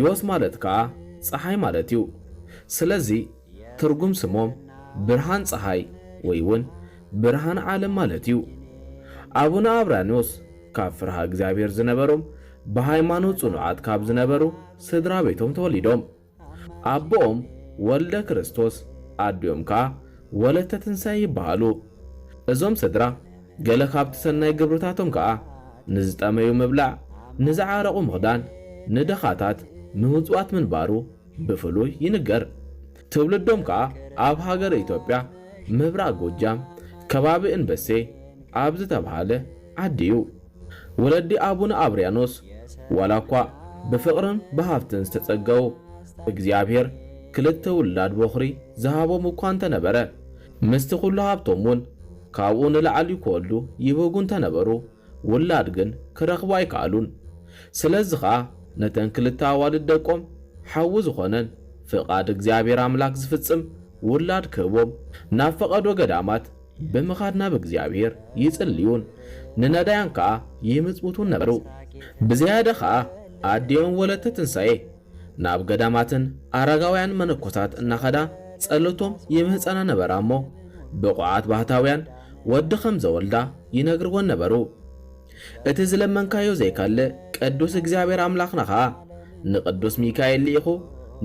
ዮስ ማለት ከኣ ጸሓይ ማለት እዩ። ስለዚ ትርጉም ስሞም ብርሃን ጸሓይ ወይ ውን ብርሃን ዓለም ማለት እዩ። ኣቡነ ኣብራንዮስ ካብ ፍርሃ እግዚኣብሔር ዝነበሮም ብሃይማኖት ጽኑዓት ካብ ዝነበሩ ስድራ ቤቶም ተወሊዶም። ኣቦኦም ወልደ ክርስቶስ ኣዲኦም ከኣ ወለተ ትንሳኤ ይበሃሉ። እዞም ስድራ ገለ ካብቲ ሰናይ ግብርታቶም ከኣ ንዝጠመዩ ምብላዕ፣ ንዝዓረቑ ምኽዳን፣ ንደኻታት ምምጽዋት ምንባሩ ብፍሉይ ይንገር። ትውልዶም ከኣ ኣብ ሃገረ ኢትዮጵያ ምብራቕ ጎጃም ከባቢ እንበሴ ኣብ ዝተብሃለ ዓዲ'ዩ። ወለዲ ኣቡነ ኣብርያኖስ ዋላ እኳ ብፍቕርን ብሃብትን ዝተጸገዉ፣ እግዚኣብሔር ክልተ ውላድ ቦኽሪ ዝሃቦም እኳ እንተ ነበረ፣ ምስቲ ዅሉ ሃብቶም እውን ካብኡ ንላዕሊ ክወልዱ ይብህጉ እንተ ነበሩ፣ ውላድ ግን ክረኽቡ ኣይከኣሉን። ስለዚ ኸኣ ነተን ክልተ ኣዋልድ ደቆም ሓዊ ዝዀነን ፍቓድ እግዚኣብሔር ኣምላክ ዝፍጽም ውላድ ክህቦም ናብ ፈቐዶ ገዳማት፣ ብምኻድ ናብ እግዚኣብሄር ይጽልዩን ንነዳያን ከኣ ይምጽውቱን ነበሩ። ብዝያዳ ከኣ ኣዲኦም ወለተ ትንሳኤ ናብ ገዳማትን ኣረጋውያን መነኮሳት እናኸዳ ጸሎቶም ይምህጸና ነበራ እሞ ብቑዓት ባህታውያን ወዲ ከም ዘወልዳ ይነግርወን ነበሩ። እቲ ዝለመንካዮ ዘይከልእ ቅዱስ እግዚኣብሄር ኣምላኽና ከኣ ንቅዱስ ሚካኤል ልኢኹ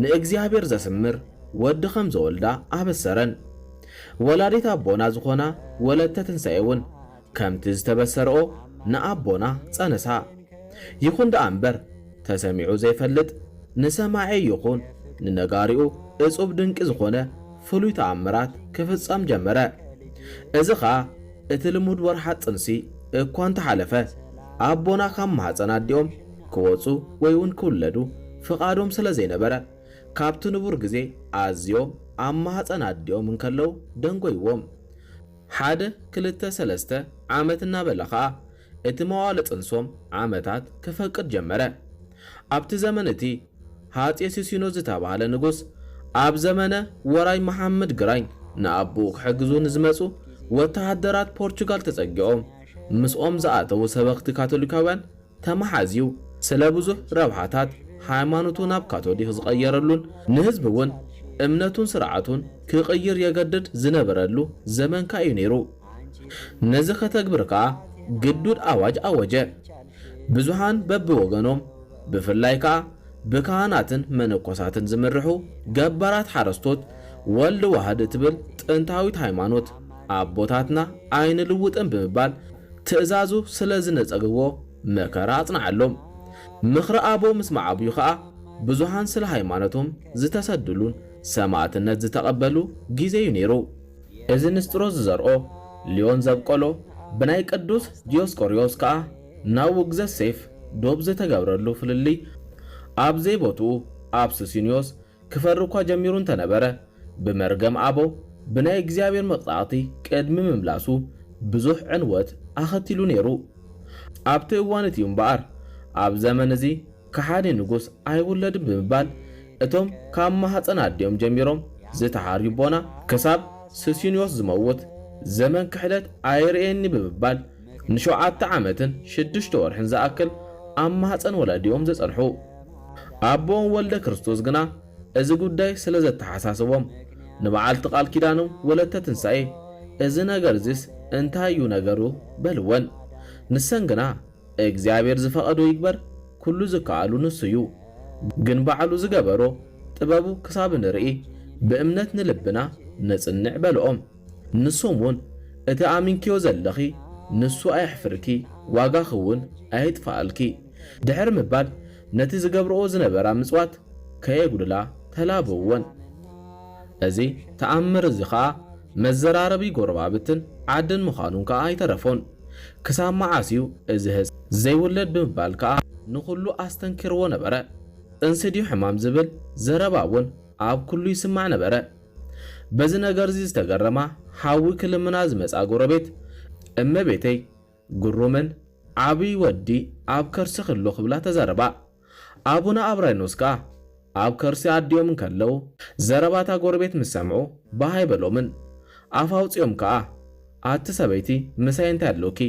ንእግዚኣብሄር ዘስምር ወዲ ከም ዘወልዳ ኣበሰረን። ወላዲት ኣቦና ዝኾና ወለተ ትንሳኤ እውን ከምቲ ዝተበሰርኦ ንኣቦና ፀነሳ። ይኹን ደኣ እምበር ተሰሚዑ ዘይፈልጥ ንሰማዒ ይኹን ንነጋሪኡ እፁብ ድንቂ ዝኾነ ፍሉይ ተኣምራት ክፍፀም ጀመረ። እዚ ከዓ እቲ ልሙድ ወርሓት ጥንሲ እኳ እንተሓለፈ ኣቦና ካብ ማህፀን ኣዲኦም ክወፁ ወይ እውን ክውለዱ ፍቓዶም ስለዘይነበረ፣ ካብቲ ንቡር ግዜ ኣዝዮም ኣብ ማህጸን ኣዲኦም እንከለዉ ደንጎይዎም። ሓደ ክልተ ሰለስተ ዓመት እናበለ ኸኣ እቲ መዋእለ ጥንሶም ዓመታት ከፈቅድ ጀመረ። ኣብቲ ዘመን እቲ ሃጼ ሲሲኖስ ዝተባህለ ንጉስ ኣብ ዘመነ ወራይ መሓመድ ግራኝ ንኣቦኡ ክሕግዙ ንዝመጹ ወተሃደራት ፖርቹጋል ተጸጊኦም ምስኦም ዝኣተዉ ሰበኽቲ ካቶሊካውያን ተመሓዝዩ ስለ ብዙሕ ረብሓታት ሃይማኖቱ ናብ ካቶሊኽ ዝቐየረሉን ንህዝቢ እውን እምነቱን ስርዓቱን ክቕይር የገድድ ዝነበረሉ ዘመን ከኣ'ዩ ነይሩ። ነዚ ከተግብር ከኣ ግዱድ ኣዋጅ ኣወጀ። ብዙሓን በብወገኖም ብፍላይ ከኣ ብካህናትን መነኮሳትን ዝምርሑ ገባራት ሓረስቶት ወልድ ዋህድ እትብል ጥንታዊት ሃይማኖት ኣቦታትና ኣይንልውጥን ብምባል ትእዛዙ ስለ ዝነጸግዎ መከራ ኣጽንዓሎም። ምኽሪ ኣቦ ምስ መዓብዩ ከኣ ብዙሃን ስለ ሃይማኖቶም ዝተሰድሉን ሰማእትነት ዝተቐበሉ ጊዜ'ዩ ነይሩ። እዚ ንስጥሮስ ዝዘርኦ፣ ልዮን ዘብቆሎ፣ ብናይ ቅዱስ ዲዮስቆርዮስ ከኣ ናብ ውግዘት ሴፍ ዶብ ዝተገብረሉ ፍልልይ ኣብ ዘይቦትኡ ኣብ ሱሲንዮስ፣ ክፈሪ እኳ ጀሚሩ እንተ ነበረ፣ ብመርገም ኣቦ፣ ብናይ እግዚኣብሔር መቕጻዕቲ ቅድሚ ምምላሱ፣ ብዙሕ ዕንወት ኣኸቲሉ ነይሩ። ኣብቲ እዋን እቲ እዩ እምበኣር፣ ኣብ ዘመን እዚ ከሓዲ ንጉሥ ኣይውለድን ብምባል፣ እቶም ካብ ማኅፀን ኣዲኦም ጀሚሮም ዝተሓርዩ ኣቦና፣ ክሳብ ሱስንዮስ ዝመውት፣ ዘመን ክሕደት ኣይርእየን'ዩ ብምባል፣ ንሸውዓተ ዓመትን ሽዱሽተ ወርሕን ዝኣክል ኣብ ማህጸን ወላዲኦም ዘጸንሑ ኣቦኦም ወልደክርስቶስ ግና እዚ ጉዳይ ስለ ዘተሓሳሰቦም ንበዓልቲ ቃል ኪዳኖም ወለተ ትንሳኤ እዚ ነገር'ዚስ እንታይ እዩ ነገሩ? በልወን። ንሰን ግና እግዚኣብሔር ዝፈቐዶ ይግበር ኩሉ ዝከኣሉ ንሱ እዩ ግን ባዕሉ ዝገበሮ ጥበቡ ክሳብ ንርኢ ብእምነት ንልብና ነጽንዕ በልኦም። ንሶም ውን እቲ ኣሚንክዮ ዘለኺ ንሱ ኣየሕፍርኪ ዋጋኺ ውን ኣየጥፍኣልኪ ድሕሪ ምባል ነቲ ዝገብርኦ ዝነበራ ምጽዋት ከየጉድላ ተላበውወን። እዚ ተኣምር እዚ ከኣ መዘራረቢ ጎረባብትን ዓድን ምዃኑ ከኣ ኣይተረፎን። ክሳብ መዓስ ዩ እዚ ህጻን ዘይውለድ ብምባል ከኣ ንኹሉ ኣስተንኪርዎ ነበረ። ጥንሲ ድዩ ሕማም ዝብል ዘረባ ውን ኣብ ኩሉ ይስማዕ ነበረ። በዚ ነገር'ዚ ዝተገረማ ሓዊ ክልምና ዝመጽኣ ጎረቤት፣ እመቤተይ፣ ግሩምን ዓብዪ ወዲ ኣብ ከርሲኺ ኣሎ ክብላ ተዛረባ። ኣቡነ ኣብራይኖስ ከኣ ኣብ ከርሲ ኣዲኦም እንከለዉ ዘረባ እታ ጎረቤት ምስ ሰምዑ ባህ ኣይበሎምን። ኣፍ ኣውጺኦም ከኣ ኣቲ ሰበይቲ ምሳይ እንታይ ኣሎኪ፣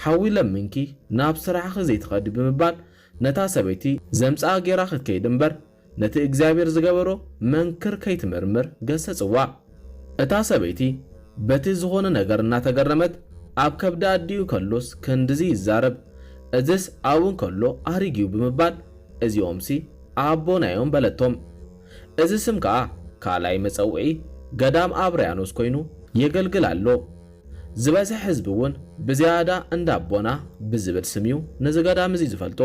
ሓዊ ለሚንኪ ናብ ስራሕኺ ዘይትኸዲ ብምባል ነታ ሰበይቲ ዘምጽኣ ገይራ ክትከይድ እምበር፣ ነቲ እግዚኣብሔር ዝገበሮ መንክር ከይትምርምር ገሰጽዋ። እታ ሰበይቲ በቲ ዝኾነ ነገር እናተገረመት ኣብ ከብዲ ኣዲኡ ከሎስ ክንድዚ ይዛረብ እዝስ ኣብኡ እንከሎ ኣሪግዩ ብምባል እዚኦምሲ ኣቦናዮም በለቶም። እዚ ስም ከኣ ካልኣይ መጸውዒ ገዳም ኣብርያኖስ ኮይኑ የገልግል ኣሎ። ዝበዝሕ ህዝቢ ውን ብዝያዳ እንዳ ኣቦና ብዝብል ስም ዩ ነዚ ገዳም እዚ ዝፈልጦ።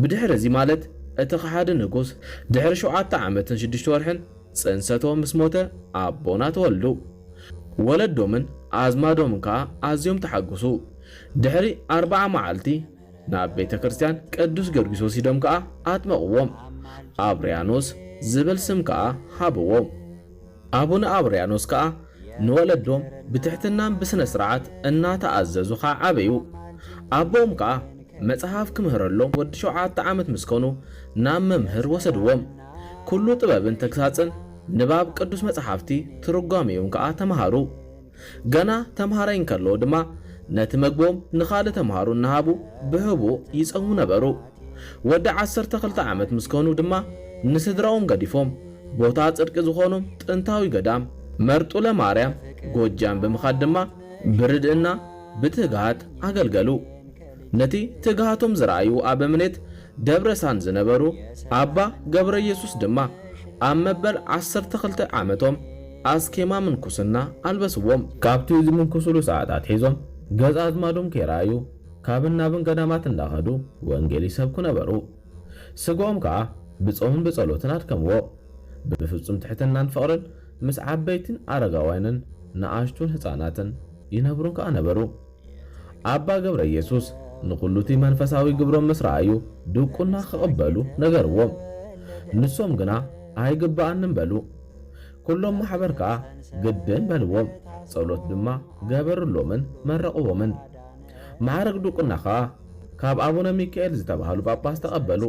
ብድሕሪ እዚ ማለት እቲ ከሓዲ ንጉስ ድሕሪ ሸውዓተ ዓመትን ሽዱሽተ ወርሕን ጽንሰቶ ምስ ሞተ ኣቦና ተወልዱ። ወለዶምን ኣዝማዶምን ከኣ ኣዝዮም ተሓጉሱ። ድሕሪ ኣርብዓ መዓልቲ ናብ ቤተ ክርስትያን ቅዱስ ጊዮርጊስ ወሲዶም ከኣ ኣጥመቕዎም። ኣብርያኖስ ዝብል ስም ከኣ ሃብዎም። ኣቡነ ኣብርያኖስ ከኣ ንወለዶም ብትሕትናን ብስነ ስርዓት እናተኣዘዙ ከኣ ዓበዩ። ኣቦኦም ከኣ መጽሓፍ ክምህረሎም ወዲ ሸውዓተ ዓመት ምስ ኮኑ ናብ መምህር ወሰድዎም። ኩሉ ጥበብን ተግሳጽን ንባብ ቅዱስ መጽሓፍቲ ትርጓሜኡን ከኣ ተመሃሩ። ገና ተምሃራይ እንከለዉ ድማ ነቲ መግቦም ንኻልእ ተምሃሮ እናሃቡ ብሕቡእ ይጸሙ ነበሩ። ወዲ ዓሰርተ ክልተ ዓመት ምስ ከኑ ድማ ንስድራኦም ገዲፎም ቦታ ጽድቂ ዝኾኖም ጥንታዊ ገዳም መርጡለ ማርያም ጎጃም ብምኻድ ድማ ብርድእና ብትግሃት ኣገልገሉ። ነቲ ትግሃቶም ዝረኣዩ ኣበምኔት ደብረሳን ዝነበሩ ኣባ ገብረየሱስ ድማ ኣብ መበል ዓሰርተ ክልተ ዓመቶም፣ ኣስኬማ ምንኩስና ኣልበስዎም። ካብቲ ዝምንኩሱሉ ሰዓት ኣትሒዞም ገዛ ኣዝማዶም ከይረኣዩ ካብን ናብን ገዳማት እንዳኸዱ ወንጌል ይሰብኩ ነበሩ። ስግኦም ከኣ ብጾምን ብጸሎትን ኣድከምዎ። ብፍጹም ትሕትናን ፍቕርን ምስ ዓበይትን ኣረጋውያንን ንኣሽቱን ህጻናትን ይነብሩን ከኣ ነበሩ። ኣባ ገብረየሱስ ንኹሉቲ መንፈሳዊ ግብሮም ምስ ረኣዩ ድቁና ክቕበሉ ነገርዎም። ንሶም ግና ኣይግበኣንን በሉ። ኩሎም ማሕበር ከኣ ግድን በልዎም፣ ጸሎት ድማ ገበርሎምን መረቕዎምን። መዓርግ ዱቁና ከኣ ካብ ኣቡነ ሚካኤል ዝተባህሉ ጳጳስ ተቐበሉ።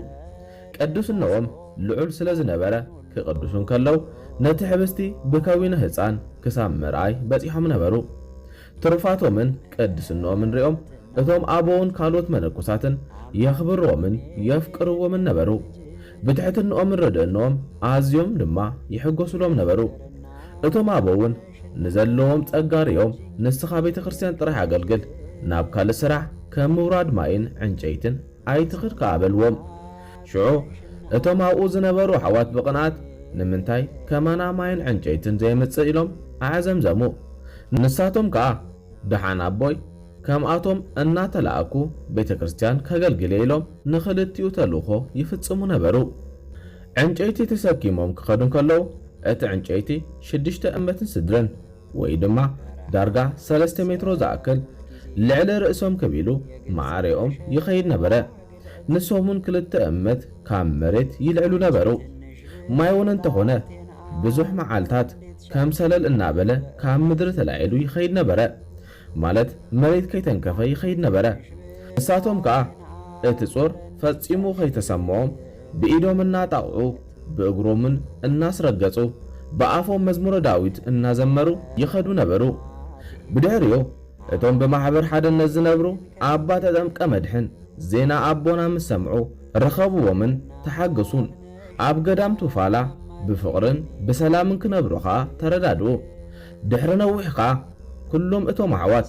ቅዱስነዎም ልዑል ስለ ዝነበረ ክቅድሱ እንከለው ነቲ ሕብስቲ ብከዊነ ህጻን ክሳብ ምርኣይ በጺሖም ነበሩ። ትሩፋቶምን ቅድስንኦምን ርእዮም እቶም ኣበውን ካልኦት መነኮሳትን የኽብርዎምን የፍቅርዎምን ነበሩ። ብትሕትንኦምን ርድእንኦም ኣዝዮም ድማ ይሕጎሱሎም ነበሩ። እቶም ኣበውን ንዘለዎም ጸጋ ርእዮም ንስኻ ቤተክርስትያን ጥራሕ ኣገልግል፣ ናብ ካልእ ስራሕ ከም ምውራድ ማይን ዕንጨይትን፣ ኣይትኽድ ከኣ በልዎም። ሽዑ እቶም ኣብኡ ዝነበሩ ኣሕዋት ብቕንኣት፣ ንምንታይ ከማና ማይን ዕንጨይትን ዘየምጽእ? ኢሎም ኣዕዘምዘሙ። ንሳቶም ከኣ፣ ደሓን ኣቦይ፣ ከምኣቶም እናተላእኩ ቤተ ክርስቲያን ከገልግል'የ ኢሎም ንኽልቲኡ ተልእኾ ይፍጽሙ ነበሩ። ዕንጨይቲ ተሰኪሞም ክኸዱ እንከለዉ፣ እቲ ዕንጨይቲ ሽዱሽተ እመትን ስድርን፣ ወይ ድማ ዳርጋ ሰለስተ ሜትሮ ዝኣክል ልዕሊ ርእሶም ክብ ኢሉ ማዕሬኦም ይኸይድ ነበረ። ንሶም'ውን ክልተ እመት ካብ መሬት ይልዕሉ ነበሩ። ማይ'ውን እንተኾነ ብዙሕ መዓልታት ከም ሰለል እናበለ ካብ ምድሪ ተላዒሉ ይኸይድ ነበረ። ማለት መሬት ከይተንከፈ ይኸይድ ነበረ። ንሳቶም ከኣ እቲ ጾር ፈጺሙ ከይተሰምዖም ብኢዶም እናጣቕዑ ብእግሮምን እናስረገጹ ብኣፎም መዝሙረ ዳዊት እናዘመሩ ይኸዱ ነበሩ። ብድሕሪኡ እቶም ብማሕበር ሓደነት ዝነብሩ ኣባ ተጠምቀ መድኅን ዜና ኣቦና ምስ ሰምዑ ረኸብዎምን ተሓገሱን። ኣብ ገዳም ቱፋላ ብፍቕርን ብሰላምን ክነብሩ ከኣ ተረዳድኡ። ድሕሪ ነዊሕ ከኣ ኩሎም እቶም ኣሕዋት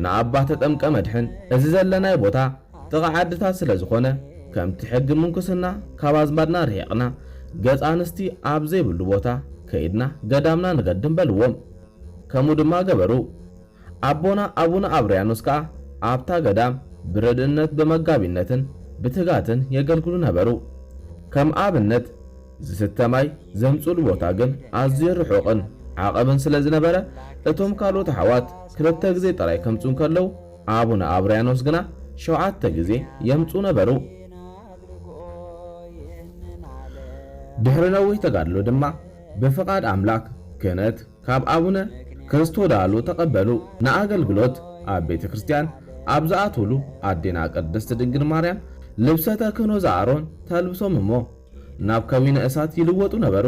ንኣባ ተጠምቀ መድሕን እዚ ዘለናዮ ቦታ ጥቓ ዓድታት ስለ ዝኾነ ከምቲ ሕጊ ምንኩስና ካብ ኣዝማድና ርሒቕና ገጽ ኣንስቲ ኣብ ዘይብሉ ቦታ ከይድና ገዳምና ንገድም በልዎም። ከምኡ ድማ ገበሩ። ኣቦና ኣቡነ ኣብርያኖስ ከኣ ኣብታ ገዳም ብረድእነት ብመጋቢነትን ብትጋትን የገልግሉ ነበሩ። ከም ኣብነት ዝስተ ማይ ዘምጽእሉ ቦታ ግን ኣዝዩ ርሑቕን ዓቐብን ስለ ዝነበረ፣ እቶም ካልኦት ኣሕዋት ክልተ ግዜ ጥራይ ከምጽኡ እንከለዉ፣ ኣቡነ ኣብርያኖስ ግና ሸውዓተ ግዜ የምጽኡ ነበሩ። ድሕሪ ነዊሕ ተጋድሎ ድማ ብፍቓድ ኣምላክ ክህነት ካብ ኣቡነ ክርስቶዳሉ ተቐበሉ። ንኣገልግሎት ኣብ ቤተ ክርስቲያን ኣብ ዝኣትዉሉ ኣዴና ቅድስት ድንግል ማርያም ልብሰ ተክህኖ ዘኣሮን ተልብሶም እሞ፣ ናብ ከዊነ እሳት ይልወጡ ነበሩ።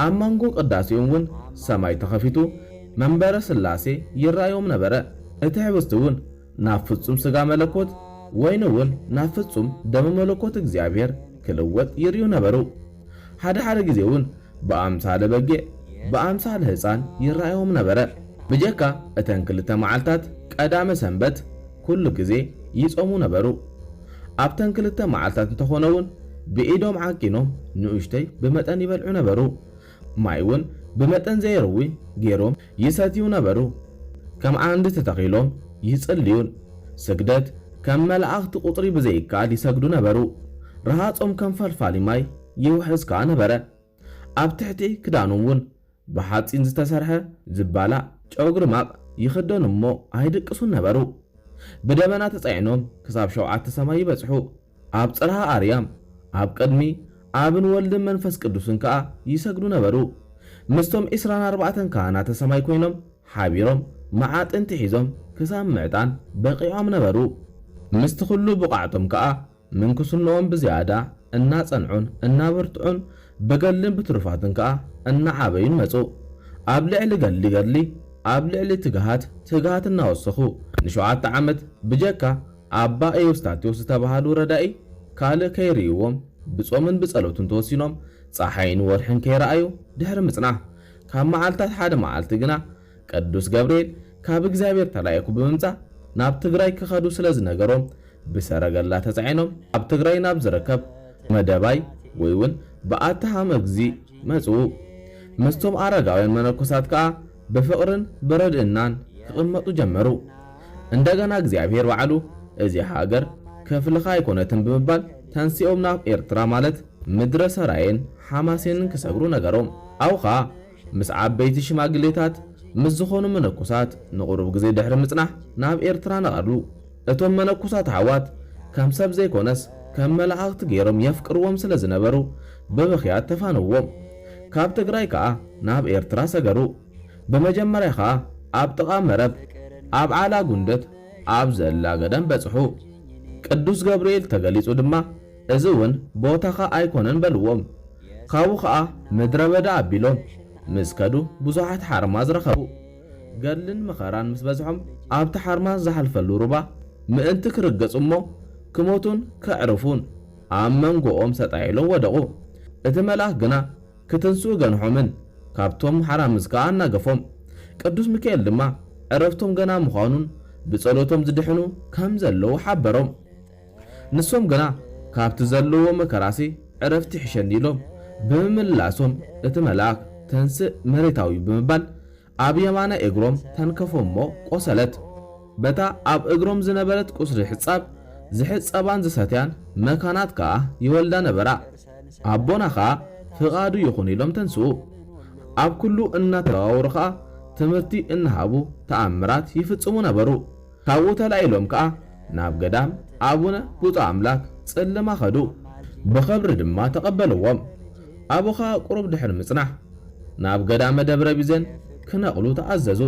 ኣብ መንጎ ቅዳሴኡም እውን ሰማይ ተኸፊቱ መንበረ ሥላሴ ይርኣዮም ነበረ። እቲ ኅብስቲ እውን ናብ ፍጹም ሥጋ መለኮት፣ ወይኒ እውን ናብ ፍጹም ደመ መለኮት እግዚኣብሔር ክልወጥ ይርእዩ ነበሩ። ሓደ ሓደ ጊዜ እውን ብኣምሳለ በጊዕ ብኣምሳለ ህጻን ይረኣዮም ነበረ። ብጀካ እተን ክልተ መዓልታት ቀዳመ ሰንበት ኩሉ ግዜ ይጾሙ ነበሩ። ኣብተን ክልተ መዓልታት እንተኾነውን ብኢዶም ዓቂኖም ንኡሽተይ ብመጠን ይበልዑ ነበሩ። ማይውን ብመጠን ዘይርዊ ጌሮም ይሰትዩ ነበሩ። ከም ዓንዲ ተተኺሎም ይጽልዩን ስግደት ከም መላእኽቲ ቁጽሪ ብዘይከኣል ይሰግዱ ነበሩ። ረሃጾም ከም ፈልፋሊ ማይ። ይውሕዝ ከኣ ነበረ። ኣብ ትሕቲ ክዳኑ እውን ብሓጺን ዝተሰርሐ ዝባላዕ ጨጉሪ ማቕ ይኽደኑ እሞ ኣይድቅሱን ነበሩ። ብደበና ተጻዒኖም ክሳብ ሸውዓተ ሰማይ ይበጽሑ፣ ኣብ ጽርሃ ኣርያም ኣብ ቅድሚ ኣብን ወልድን መንፈስ ቅዱስን ከኣ ይሰግዱ ነበሩ። ምስቶም ዕስራን ኣርባዕተን ካህናተ ሰማይ ኰይኖም ሓቢሮም መዓጥንቲ ሒዞም ክሳብ ምዕጣን በቒዖም ነበሩ። ምስቲ ኵሉ ብቕዓቶም ከኣ ምንኩስንኦም ብዝያዳ እናጸንዑን እናበርትዑን ብገድልን ብትሩፋትን ከኣ እናዓበዩን መጹ። ኣብ ልዕሊ ገድሊ ገድሊ፣ ኣብ ልዕሊ ትግሃት ትግሃት እናወሰኹ፣ ንሸውዓተ ዓመት ብጀካ ኣባ ኤዎስታቴዎስ ዝተባህሉ ረዳኢ ካልእ ከይርእይዎም ብጾምን ብጸሎትን ተወሲኖም ጸሓይን ወርሕን ከይረኣዩ ድሕሪ ምጽናሕ፣ ካብ መዓልታት ሓደ መዓልቲ ግና፣ ቅዱስ ገብርኤል ካብ እግዚኣብሔር ተላኢኹ ብምምጻእ ናብ ትግራይ ክኸዱ ስለ ዝነገሮም ብሰረገላ ተጻዒኖም ኣብ ትግራይ ናብ ዝርከብ መደባይ ወይ ውን በዓቲ ሃመግዚ መጽኡ። ምስቶም ኣረጋውያን መነኮሳት ከኣ ብፍቕርን ብረድእናን ክቕመጡ ጀመሩ። እንደገና እግዚኣብሔር ባዕሉ እዚ ሃገር ክፍልኻ ኣይኮነትን ብምባል ተንሲኦም ናብ ኤርትራ ማለት ምድረ ሰራየን ሓማሴንን ክሰግሩ ነገሮም። ኣብኡ ከኣ ምስ ዓበይቲ ሽማግሌታት ምስ ዝኾኑ መነኮሳት ንቑሩብ ግዜ ድሕሪ ምጽናሕ ናብ ኤርትራ ነቐሉ። እቶም መነኮሳት ኣሕዋት ከም ሰብ ዘይኮነስ ከም መላእኽቲ ገይሮም የፍቅርዎም ስለ ዝነበሩ ብብኽያት ተፋነውዎም። ካብ ትግራይ ከኣ ናብ ኤርትራ ሰገሩ። ብመጀመርያ ከኣ ኣብ ጥቓ መረብ ኣብ ዓላ ጉንደት ኣብ ዘላ ገዳም በጽሑ። ቅዱስ ገብርኤል ተገሊጹ ድማ እዚ እውን ቦታኻ ኣይኮነን በልዎም። ካብኡ ኸኣ ምድረ በዳ ኣቢሎም ምስ ከዱ ብዙሓት ሓርማዝ ረኸቡ። ገድልን መኸራን ምስ በዝሖም ኣብቲ ሓርማዝ ዝሓልፈሉ ሩባ ምእንቲ ክርገጹ እሞ ክሞቱን ከዕርፉን ኣብ መንጎኦም ሰጣይ ኢሎም ወደቑ። እቲ መልኣኽ ግና ክትንስኡ ገንሖምን ካብቶም ሓራምዝ ከኣ ኣናገፎም። ቅዱስ ሚካኤል ድማ ዕረፍቶም ገና ምዃኑን ብጸሎቶም ዝድሕኑ ከም ዘለዉ ሓበሮም። ንሶም ግና ካብቲ ዘለዉዎ መከራሲ ዕረፍቲ ይሕሸኒ ኢሎም ብምምላሶም እቲ መልኣኽ ተንሥእ መሬታዊ ብምባል ኣብ የማናይ እግሮም ተንከፎም'ሞ ቆሰለት። በታ ኣብ እግሮም ዝነበረት ቁስሊ ሕጻብ ዝሕጸባን ዝሰትያን መካናት ከኣ ይወልዳ ነበራ። ኣቦና ከኣ ፍቓዱ ይኹን ኢሎም ተንሥኡ። ኣብ ኩሉ እናተዘዋወሩ ከኣ ትምህርቲ እናሃቡ ተኣምራት ይፍጽሙ ነበሩ። ካብኡ ተላኢሎም ከኣ ናብ ገዳም ኣቡነ ብጹእ ኣምላክ ጽልማ ከዱ። ብኸብሪ ድማ ተቐበልዎም። ኣብኡ ከኣ ቁሩብ ድሕሪ ምጽናሕ ናብ ገዳመ ደብረ ቢዘን ክነቕሉ ተኣዘዙ።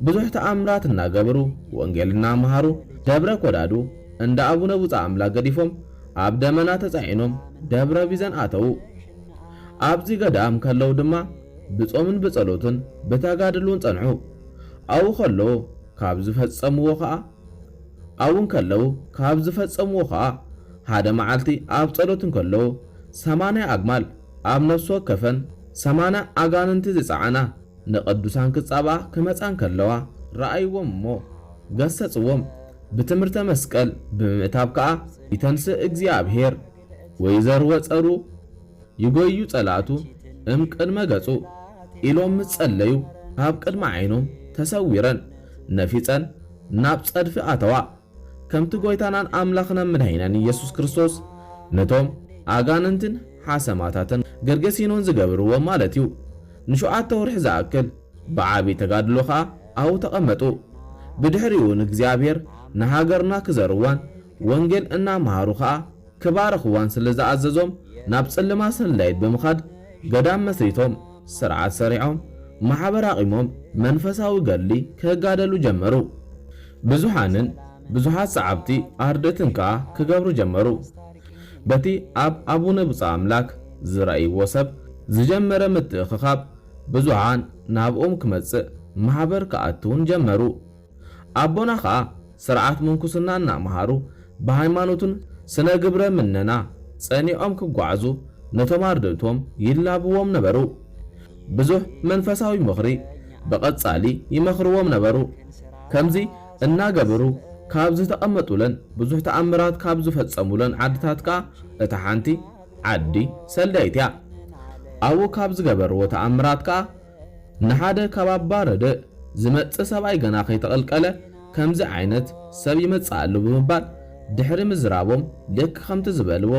ብዙሕ ተኣምራት እናገበሩ ወንጌል እናመሃሩ ደብረ ኮዳዱ እንዳ ኣቡነ ብጹእ ኣምላክ ገዲፎም ኣብ ደመና ተጻዒኖም ደብረ ቢዘን ኣተዉ። ኣብዚ ገዳም ከለዉ ድማ ብጾምን ብጸሎትን ብተጋድሉን ጸንሑ። ኣብኡ ከሎ ካብ ዝፈጸምዎ ከኣ ኣብኡ እንከለዉ ካብ ዝፈጸምዎ ከኣ ሓደ መዓልቲ ኣብ ጸሎት እንከሎ ሰማንያ ኣግማል ኣብ ነፍሲ ወከፈን ሰማንያ ኣጋንንቲ ዝጸዓና ንቅዱሳን ክጻብኣ ክመጻ እንከለዋ ረኣይዎም እሞ ገሰጽዎም ብትምህርተ መስቀል ብምምእታብ ከኣ ይተንሥእ እግዚኣብሔር ወይዘርወ ጸሩ ይጎዩ ጸላእቱ እም ቅድመ ገጹ ኢሎም ምስ ጸለዩ ኣብ ቅድሚ ዓይኖም ተሰዊረን ነፊጸን ናብ ጸድፊ ኣተዋ ከምቲ ጎይታናን ኣምላኽናን ምድኃኒናን ኢየሱስ ክርስቶስ ነቶም ኣጋንንትን ሓሰማታትን ገርገሲኖን ዝገብርዎም ማለት እዩ ንሸውዓተ ወርሒ ዝኣክል ብዓቢይ ተጋድሎ ከኣ ኣብኡ ተቐመጡ ብድሕሪኡ ንእግዚኣብሔር ንሃገርና ክዘርዋን ወንጌል እናመሃሩ ኸኣ ክባርኽዋን ስለ ዝኣዘዞም፣ ናብ ጽልማ ሰንላይት ብምኻድ ገዳም መስሪቶም፣ ስርዓት ሰሪዖም፣ ማሕበር ኣቚሞም መንፈሳዊ ገድሊ ክጋደሉ ጀመሩ። ብዙሓንን ብዙሓት ሰዓብቲ ኣርድእትን ከኣ ክገብሩ ጀመሩ። በቲ ኣብ ኣቡነ ብጹእ ኣምላክ ዝረእይዎ ሰብ ዝጀመረ ምትእኽኻብ ብዙሓን ናብኦም ክመጽእ ማሕበር ክኣትውን ጀመሩ። ኣቦና ከኣ ስርዓት ምንኩስና እናመሃሩ ብሃይማኖትን ስነ ግብረ ምነና ጸኒዖም ክጓዓዙ ነቶም ኣርድእቶም ይላብዎም ነበሩ። ብዙሕ መንፈሳዊ ምኽሪ ብቐጻሊ ይመኽርዎም ነበሩ። ከምዚ እናገበሩ ካብ ዝተቐመጡለን ብዙሕ ተኣምራት ካብ ዝፈጸሙለን ዓድታት ከኣ እታ ሓንቲ ዓዲ ሰልዳይት እያ። ኣብኡ ካብ ዝገበርዎ ተኣምራት ከኣ ንሓደ ካብ ኣባ ረድእ ዝመጽእ ሰብኣይ ገና ከይተቐልቀለ ከምዚ ዓይነት ሰብ ይመጽእ ኣሎ ብምባል ድሕሪ ምዝራቦም ልክ ከምቲ ዝበልዎ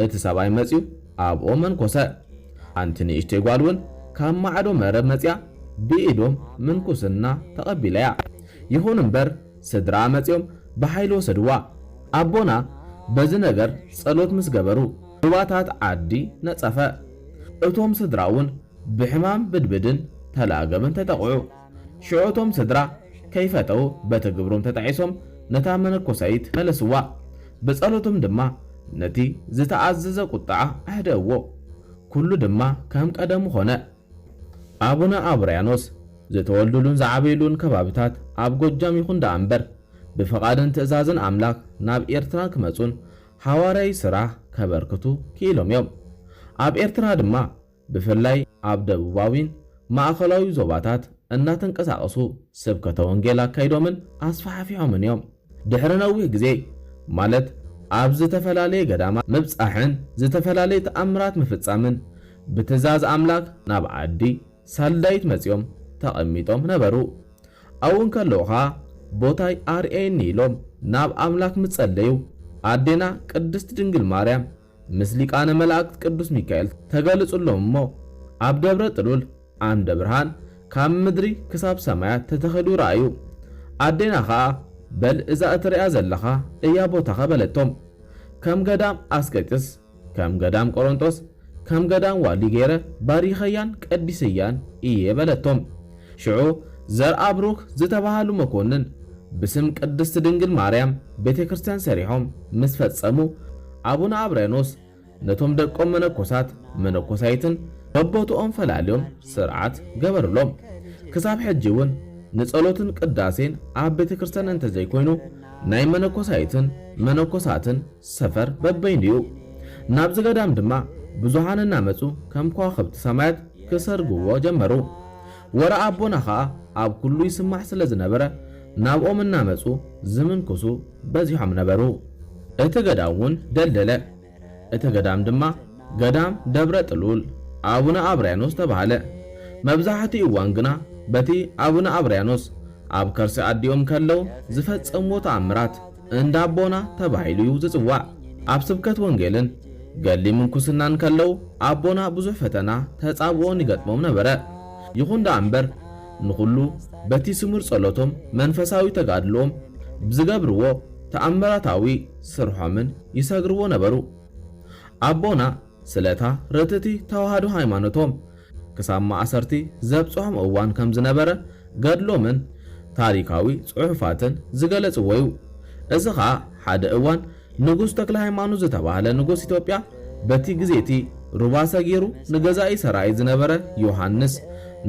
እቲ ሰብኣይ መጽዩ ኣብኦም መንኮሰ። ሓንቲ ንእሽተይ ጓል እውን ካብ ማዕዶ መረብ መጽያ ብኢዶም ምንኩስና ተቐቢላያ። ይኹን እምበር ስድራኣ መጽዮም ብሓይሊ ወሰድዋ። ኣቦና በዚ ነገር ጸሎት ምስ ገበሩ ሩባታት ዓዲ ነጸፈ። እቶም ስድራ እውን ብሕማም ብድብድን ተለኣገምን ተጠቕዑ። ሽዑ እቶም ስድራ ከይፈተዉ በቲ ግብሮም ተጣዒሶም ነታ መነኮሳይት ፈለስዋ። ብጸሎቶም ድማ ነቲ ዝተኣዘዘ ቁጥዓ ኣህደእዎ። ኩሉ ድማ ከም ቀደሙ ኮነ። ኣቡነ ኣውርያኖስ ዝተወልዱሉን ዝዓበዩሉን ከባብታት ኣብ ጎጃም ይኹን ደኣ እምበር ብፍቓድን ትእዛዝን ኣምላክ ናብ ኤርትራ ክመጹን ሓዋርያዊ ስራሕ ከበርክቱ ክኢሎም እዮም። ኣብ ኤርትራ ድማ ብፍላይ ኣብ ደቡባዊን ማእኸላዊ ዞባታት እናተንቀሳቐሱ ስብከተ ወንጌል ኣካይዶምን ኣስፋሕፊሖምን እዮም። ድሕሪ ነዊህ ግዜ ማለት ኣብ ዝተፈላለየ ገዳማት ምብጻሕን ዝተፈላለየ ተኣምራት ምፍጻምን ብትእዛዝ ኣምላክ ናብ ዓዲ ሳልዳይት መጺኦም ተቐሚጦም ነበሩ። ኣብኡ እንከለዉ ኸኣ ቦታይ ኣርእየኒ ኢሎም ናብ ኣምላክ ምስ ጸለዩ ኣዴና ቅድስት ድንግል ማርያም ምስ ሊቃነ መላእክት ቅዱስ ሚካኤል ተገለጹሎም እሞ ኣብ ደብረ ጥሉል ዓምደ ብርሃን ካብ ምድሪ ክሳብ ሰማያት ተተኺሉ ረኣዩ። ኣዴና ከኣ በል እዛ እትርእያ ዘለኻ እያ ቦታኻ በለቶም። ከም ገዳም ኣስቄጥስ፣ ከም ገዳም ቆሮንጦስ፣ ከም ገዳም ዋሊ ገይረ ባሪኸያን ቀዲሰያን እየ በለቶም። ሽዑ ዘርኣብሩክ ዝተባሃሉ መኮንን ብስም ቅድስት ድንግል ማርያም ቤተ ክርስቲያን ሰሪሖም ምስ ፈጸሙ ኣቡነ ኣብርያኖስ ነቶም ደቆም መነኮሳት መነኮሳይትን በቦትኦም ፈላልዮም ስርዓት ገበሩሎም። ክሳብ ሕጂ እውን ንጸሎትን ቅዳሴን ኣብ ቤተ ክርስቲያን እንተዘይኮይኑ ናይ መነኮሳይትን መነኮሳትን ሰፈር በበይኑ እዩ። ናብዚ ገዳም ድማ ብዙኃን እናመጹ ከም ከዋኽብቲ ሰማያት ክሰርግዎ ጀመሩ። ወረ ኣቦና ከኣ ኣብ ኩሉ ይስማዕ ስለ ዝነበረ ናብኦም እናመጹ ዝምንኩሱ በዚሖም ነበሩ። እቲ ገዳም'ውን ደልደለ። እቲ ገዳም ድማ ገዳም ደብረ ጥሉል ኣቡነ ኣብርያኖስ ተባህለ። መብዛሕትኡ እዋን ግና በቲ ኣቡነ ኣብርያኖስ ኣብ ከርሲ ኣዲኦም ከለው ዝፈጸምዎ ተኣምራት፣ እንዳ ኣቦና ተባሂሉ እዩ ዝጽዋዕ። ኣብ ስብከት ወንጌልን ገድሊ ምንኩስናን ከለዉ ኣቦና ብዙሕ ፈተና ተጻብኦን ይገጥሞም ነበረ። ይኹን ደኣ እምበር ንኹሉ በቲ ስሙር ጸሎቶም መንፈሳዊ ተጋድልኦም ብዝገብርዎ ተኣምራታዊ ስርሖምን ይሰግርዎ ነበሩ። ኣቦና ስለታ ርትእቲ ተዋህዶ ሃይማኖቶም ክሳብ ማእሰርቲ ዘብጽሖም እዋን ከም ዝነበረ ገድሎምን ታሪካዊ ጽሑፋትን ዝገለጽዎ እዩ። እዚ ከኣ ሓደ እዋን ንጉስ ተክለሃይማኖት ዝተባህለ ንጉስ ኢትዮጵያ በቲ ግዜ'ቲ ሩባ ሰጊሩ ንገዛኢ ሰራየ ዝነበረ ዮሃንስ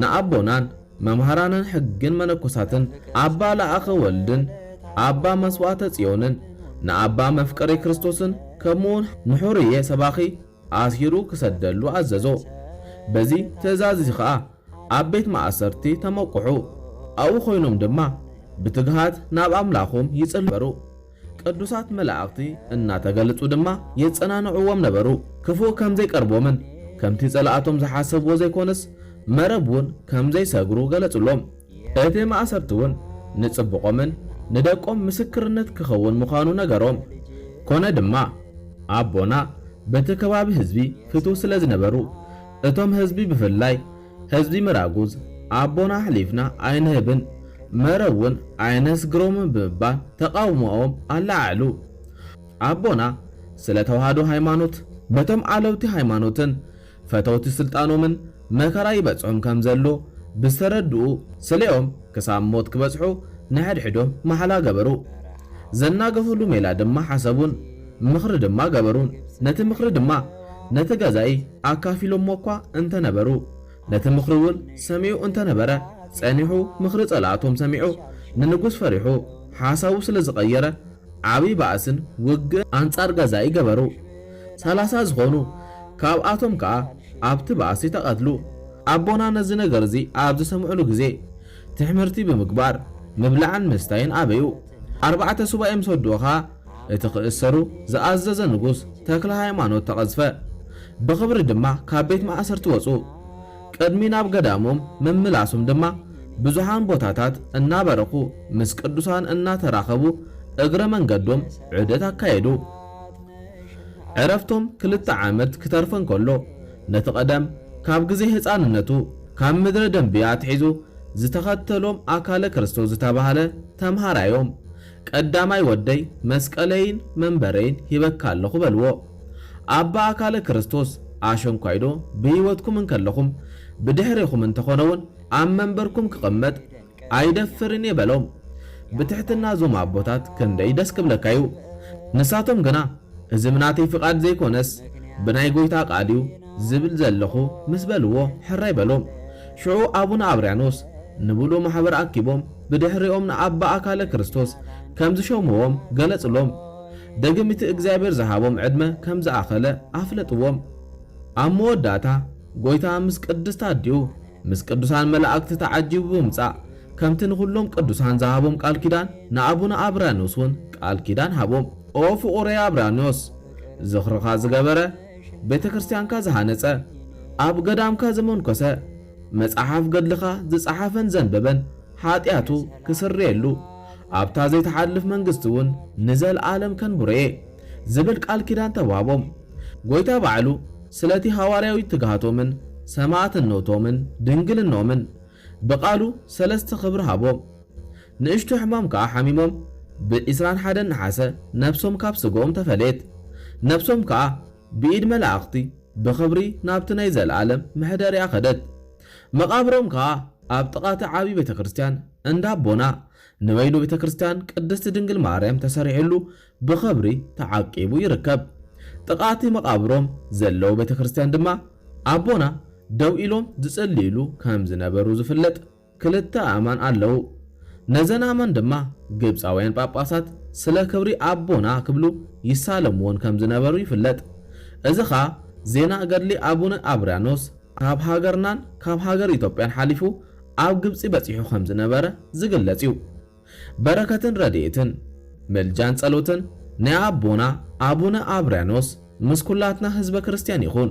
ንኣቦናን መምሃራንን ሕግን መነኮሳትን ኣባ ለኣከ ወልድን ኣባ መስዋእተ ጽዮንን ንኣባ መፍቀሬ ክርስቶስን ከምኡውን ንሑርዬ ሰባኺ ኣሲሩ ክሰደሉ ኣዘዞ። በዚ ትእዛዝ እዚ ኸኣ ኣብ ቤት ማእሰርቲ ተመቁሑ። ኣብኡ ኮይኖም ድማ ብትግሃት ናብ ኣምላኾም ይጽልዩ ነበሩ። ቅዱሳት መላእኽቲ እናተገልጹ ድማ የጸናንዕዎም ነበሩ። ክፉእ ከም ዘይቀርቦምን ከምቲ ጸላእቶም ዝሓሰብዎ ዘይኮነስ መረብ ውን ከም ዘይሰግሩ ገለጹሎም። እቲ ማእሰርቲ ውን ንጽቡቖምን ንደቆም ምስክርነት ክኸውን ምዃኑ ነገሮም። ኮነ ድማ ኣቦና በቲ ከባቢ ህዝቢ ፍትው ስለ ዝነበሩ እቶም ህዝቢ ብፍላይ ህዝቢ ምራጉዝ ኣቦና ኣሕሊፍና ኣይንህብን፣ መረብ እውን ኣየነስግሮምን ብምባል ተቓውሞኦም ኣለዓዕሉ። ኣቦና ስለ ተዋህዶ ሃይማኖት በቶም ኣለውቲ ሃይማኖትን ፈተውቲ ስልጣኖምን መከራ ይበፅሖም ከም ዘሎ ብዝተረድኡ ስሌኦም ክሳብ ሞት ክበፅሑ ንሕድሕዶም ማሕላ ገበሩ። ዘናገፍሉ ሜላ ድማ ሓሰቡን ምኽሪ ድማ ገበሩን። ነቲ ምኽሪ ድማ። ነቲ ገዛኢ ኣካፊሎሞ'ኳ እንተ ነበሩ፣ ነቲ ምኽሪ'ውን ሰሚዑ እንተ ነበረ፣ ጸኒሑ ምኽሪ ጸላእቶም ሰሚዑ ንንጉስ ፈሪሑ ሓሳቡ ስለ ዝቐየረ፣ ዓብዪ ባእስን ውግእን ኣንጻር ገዛኢ ገበሩ። ሰላሳ ዝዀኑ ካብኣቶም ከኣ ኣብቲ ባእሲ ተቐትሉ። ኣቦና ነዚ ነገር'ዚ ኣብ ዝሰምዑሉ ግዜ፣ ትሕምርቲ ብምግባር ምብላዕን ምስታይን ኣበዩ። ኣርባዕተ ሱባኤ ምስ ወድኡ ኸኣ፣ እቲ ክእሰሩ ዝኣዘዘ ንጉስ ተክለሃይማኖት ተቐዝፈ። ብኽብሪ ድማ ካብ ቤት ማእሰርቲ ወጹ። ቅድሚ ናብ ገዳሞም ምምላሱም ድማ ብዙሓን ቦታታት እናበረኹ ምስ ቅዱሳን እናተራኸቡ እግረ መንገዶም ዑደት ኣካየዱ። ዕረፍቶም ክልተ ዓመት ክተርፎ እንከሎ ነቲ ቀደም ካብ ግዜ ህጻንነቱ ካብ ምድረ ደምብያ ኣትሒዙ ዝተኸተሎም ኣካለ ክርስቶስ ዝተባህለ ተምሃራዮም ቀዳማይ ወደይ መስቀለይን መንበረይን ሂበካ ኣለኹ በልዎ። ኣባ ኣካለ ክርስቶስ ኣሸንኳይዶ ብህይወትኩም እንከለኹም ብድሕሬኹም እንተኾነውን ኣብ መንበርኩም ክቕመጥ ኣይደፍርን እየ በሎም። ብትሕትና እዞም ኣቦታት ክንደይ ደስ ክብለካ እዩ። ንሳቶም ግና እዚ ብናተይ ፍቓድ ዘይኮነስ ብናይ ጎይታ ቃል እዩ ዝብል ዘለኹ ምስ በልዎ ሕራይ በሎም። ሽዑ ኣቡነ ኣብርያኖስ ንብሉእ ማሕበር ኣኪቦም ብድሕሪኦም ንኣባ ኣካለ ክርስቶስ ከም ዝሾምዎም ገለጹሎም። ደግም እቲ እግዚኣብሔር ዝሃቦም ዕድመ ከም ዝኣኸለ ኣፍለጥዎም። ኣብ መወዳእታ ጐይታ ምስ ቅድስት ኣዲኡ ምስ ቅዱሳን መላእክት ተዓጂቡ ብምጻእ ከምቲ ንኹሎም ቅዱሳን ዝሃቦም ቃል ኪዳን ንኣቡነ ኣብራንዮስ እውን ቃል ኪዳን ሃቦም። ኦ ፍቑረይ ኣብራንዮስ ዝኽርኻ ዝገበረ፣ ቤተ ክርስቲያንካ ዝሃነጸ፣ ኣብ ገዳምካ ዘመንኰሰ፣ መጽሓፍ ገድልኻ ዝጸሓፈን ዘንበበን ሓጢኣቱ ክስርየሉ፣ ኣብታ ዘይትሓልፍ መንግስቲውን ንዘልኣለም ከንብሮ'የ ዝብል ቃል ኪዳን ተዋህቦም። ጐይታ ባዕሉ ስለ'ቲ ሃዋርያዊ ትግሃቶምን ሰማእትነቶምን ድንግልንኦምን ብቃሉ ሰለስተ ክብሪ ሃቦም። ንእሽቶ ሕማም ከኣ ሓሚሞም ብ ዕስራን ሓደን ነሓሰ ነፍሶም ካብ ስጋኦም ተፈልየት። ነፍሶም ከኣ። ብኢድ መላእኽቲ ብኽብሪ ናብቲ ናይ ዘለኣለም መሕደሪኣ ከደት። መቓብሮም ከኣ ኣብ ጥቓ እቲ ዓብዪ ቤተ ክርስቲያን እንዳ ኣቦና ንበይኑ ቤተ ክርስቲያን ቅድስቲ ድንግል ማርያም ተሰሪሑሉ ብኽብሪ ተዓቂቡ ይርከብ። ጥቓ እቲ መቓብሮም ዘለዎ ቤተ ክርስቲያን ድማ ኣቦና ደው ኢሎም ዝጽልዩሉ ከም ዝነበሩ ዝፍለጥ ክልተ ኣእማን ኣለዉ። ነዘን ኣእማን ድማ ግብጻውያን ጳጳሳት ስለ ክብሪ ኣቦና ክብሉ ይሳለምወን ከም ዝነበሩ ይፍለጥ። እዚ ኸኣ ዜና ገድሊ ኣቡነ ኣብርያኖስ ካብ ሃገርናን ካብ ሃገር ኢትዮጵያን ሓሊፉ ኣብ ግብጺ በጺሑ ከም ዝነበረ ዝግለጽ እዩ። በረከትን ረድኤትን ምልጃን ጸሎትን ናይ ኣቦና ኣቡነ ኣብርያኖስ ምስ ኩላትና ህዝበ ክርስትያን ይኹን።